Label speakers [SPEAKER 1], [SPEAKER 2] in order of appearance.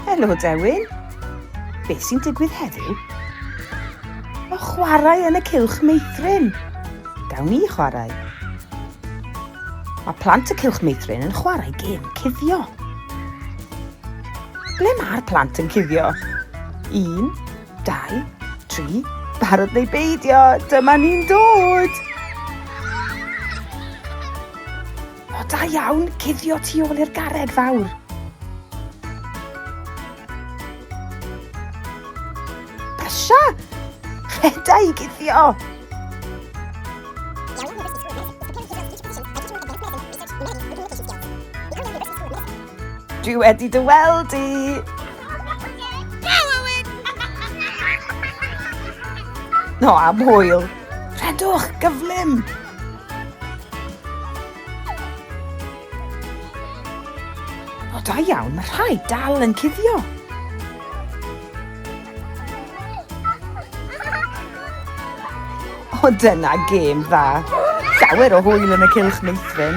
[SPEAKER 1] Helo Dewin, beth sy'n digwydd heddiw? Mae chwarae yn y cylch meithrin. Gawn ni chwarae. Mae plant y cylch meithrin yn chwarae gêm cuddio. Ble mae'r plant yn cuddio? Un, dau, tri, barod neu beidio, dyma ni'n dod! O, da iawn, cuddio tu ôl i'r garreg fawr. Brysia! Rheda i guddio! Dwi wedi dy weld di! No, am hwyl! Rhedwch, gyflym! O, da iawn, mae rhai dal yn cuddio. O, dyna gêm dda. Llawer o hwyl yn y cilch meithrin.